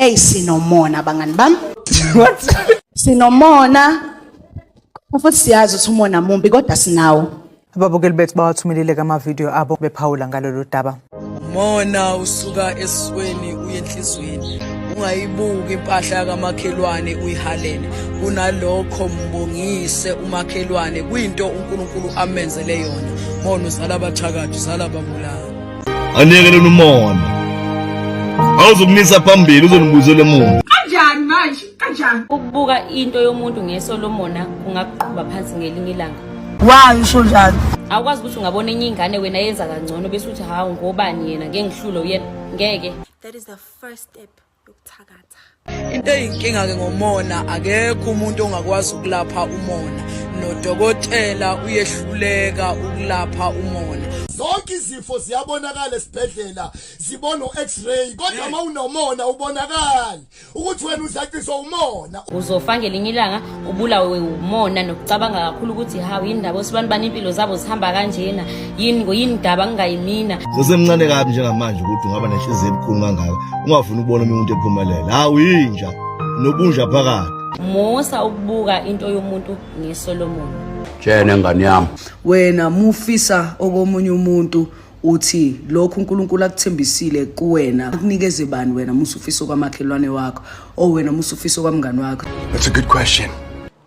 Hey sinomona bangani bami. What? Sinomona. Futhi siyazi ukuthi umona mumbi kodwa sinawo. Ababukeli bethu bawathumelile kama video abo bephawula ngalolu daba. Mona usuka esweni uye enhlizweni. Ungayibuki impahla kamakhelwane uyihalele. Kunalokho mbongise umakhelwane kuyinto uNkulunkulu amenzele yona. Mona uzala abathakathi, uzala ababulali. Anekelele umona. Awuzokunisa phambili uzonibuzela emuva. Kanjani manje? Kanjani? Ukubuka into yomuntu ngeso lomona kungakuqhuba phansi ngelinye ilanga. Why usho njalo? Awukwazi ukuthi ungabona enye ingane wena yenza kangcono bese uthi hawu ngobani yena ngengihlulo yena ngeke. That is the first step. yokuthakatha into eyinkinga-ke ngomona akekho umuntu ongakwazi ukulapha umona nodokotela uyehluleka ukulapha umona zonke izifo ziyabonakala esibhedlela zibona u-x-ray kodwa uma unomona ubonakali ukuthi wena uzaciswa umona uzofanga elinye ilanga ubulawe umona nokucabanga kakhulu ukuthi hawu yini ndaba osibani bani impilo zabo zihamba kanjena yini ngoyini daba kungayimina sesemncane kabi njengamanje ukuthi ungaba nenhliziyo ebukhulu kangaka ungafuni ukubona omunye umuntu ephumelela hawu yinja nobunja phakathi musa ukubuka into yomuntu ngesolomoni tshena ngane yami wena mufisa okomunye umuntu uthi lokhu uNkulunkulu akuthembisile kuwena akunikeze bani wena musufiso kwamakhelwane wakho or wena musufiso kwamngani wakho That's a good question.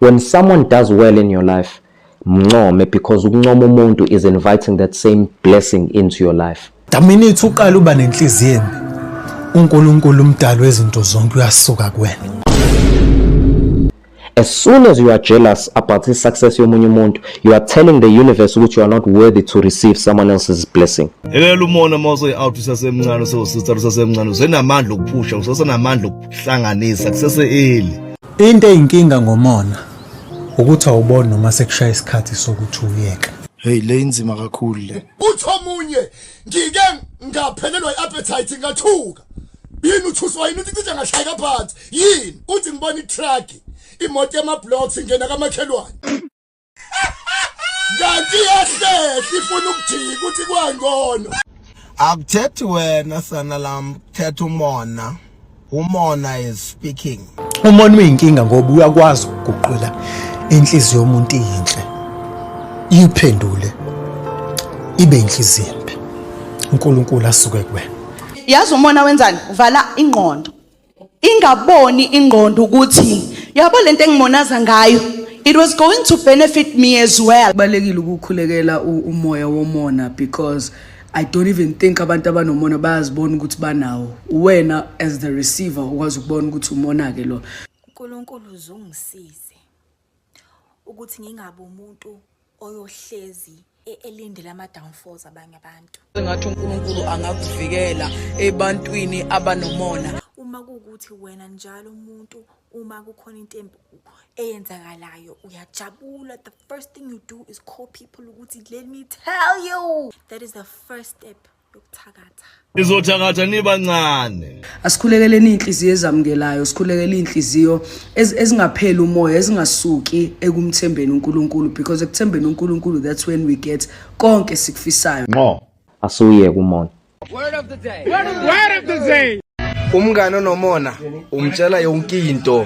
When someone does well in your life, mncome because ukuncoma umuntu is inviting that same blessing into your life. The minute uqala uba nenhliziyo embi, uNkulunkulu umdali wezinto zonke uyasuka kuwena. As soon as you are jealous about the success yomunye umuntu, you are telling the universe ukuthi you are not worthy to receive someone else's blessing. Yelela umona uma useyi-out usasemncane usewusithatha usasemncane usenamandla okuphusha usesenamandla okuhlanganisa kusese-eli. Into eyinkinga ngomona ukuthi awuboni noma sekushaya isikhathi sokuthi uyeke. Hey le inzima kakhulu le. Uthi omunye ngike ngaphelelwa i-appetite ngathuka. Yini uthuswa yini uthi cishe ngashayeka phansi. yini uthi ngibona itruck imoto yamablocks ingena kamakhelwane kanti yahlehla ifuna ukujika ukuthi kwangono akuthethi wena sana lam kuthetha umona umona is speaking umona uyinkinga ngoba uyakwazi ukuguqula inhliziyo yomuntu inhle iyiphendule ibe inhliziyo embi uNkulunkulu asuke kuwena yazi umona wenzani uvala ingqondo ingaboni ingqondo ukuthi yabo lento engimonaza ngayo it was going to benefit me as well balekile ukukhulekela umoya womona because i don't even think abantu abanomona bayazibona ukuthi banawo wena as the receiver ukwazi ukubona ukuthi umona ke lo uNkulunkulu uzungisize ukuthi ngingabi umuntu oyohlezi e-, elindele ama-downfalls abanye abantu sengathi unkulunkulu angakuvikela ebantwini abanomona uma kuwukuthi wena njalo umuntu uma kukhona into embi eyenzakalayo uyajabula the first thing you do is call people ukuthi let me tell you that is the first step yokuthakatha izothakatha nibancane asikhulekeleni inhliziyo ezamukelayo sikhulekele inhliziyo ezingapheli umoya ezingasuki ekumthembeni uNkulunkulu because ekuthembeni uNkulunkulu that's when we get konke sikufisayo nqo asuye kumona word of the day word of the day umngane onomona umtshela yonke into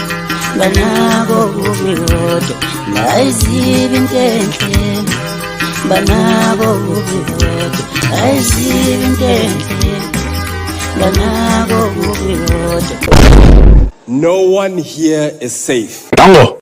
banako kubi kodwa ngayizibi intenhle banako kubi kodwa ngayizibi intenhle banako kubi kodwa no one here is safe Dango.